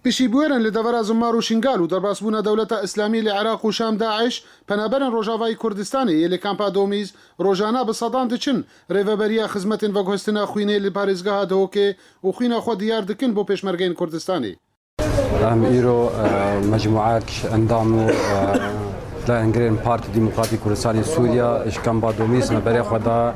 Piştî bûyerên li devera Zimmar û Şingal û derbasbûna Dewleta Îslamî li Iraq û Şam DAIŞ, penaberên Rojavayî Kurdistanê yê li Kampa Domîz rojana bi sedan diçin rêveberiya xizmetên veguhestina xwînê li parêzgeha Dihokê û xwîna xwe diyar dikin bo pêşmergeyên Kurdistanê. Em îro mecmûeyek ji endam û leyengirên Partî Demokratî Kurdistanê Sûriya ji Kampa Domîz me berê xwe da.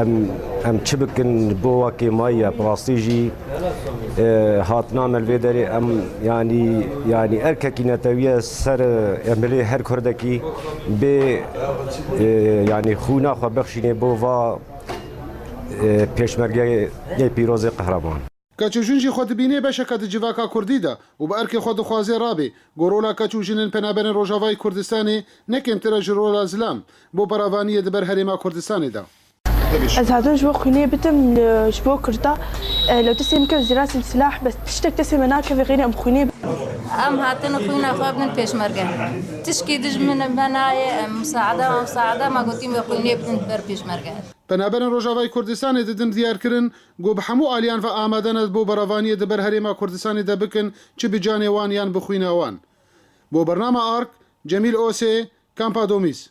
Em em çi bikin bo wakê mayî ye bi rastî jî e, hatina me li vê derê em yanî yanî erkekî netewiye ser em bilê her kurdekî bê e, yanî xûna xwe bexşînê bo va e, pêşmergeyê pîrozê qehreman. Keç û jin jî xwe dibînê beşeke di civaka kurdî de û bi erkê xwe dixwazê rabê ku rola keç û jinên penaberên Rojavayê Kurdistanê ne kêmtir e ji rola zilam bo beravaniyê di ber herêma Kurdistanê de. Ez hatim ji bo xwînê bitim ji bo kurda lê destê min kevt ji rasê silah bes tiştek destê min nakeve xêrê em xwînê Em hatin xwîna xwe bin pêşmerge. Tişkî dij min me nayê em musaada mamusaada ma gotîm wê xwînê bidim di ber pêşmerge. Penaberên Rojavayê Kurdistanê di din diyar kirin Ku bi hemû aliyan ve amade ne bo berevaniyê di ber Herêma Kurdistanê de bikin çi bi canê wan yan bi xwîna wan. Bo bernama ark, Cemîl Osê, Kampa Domîz.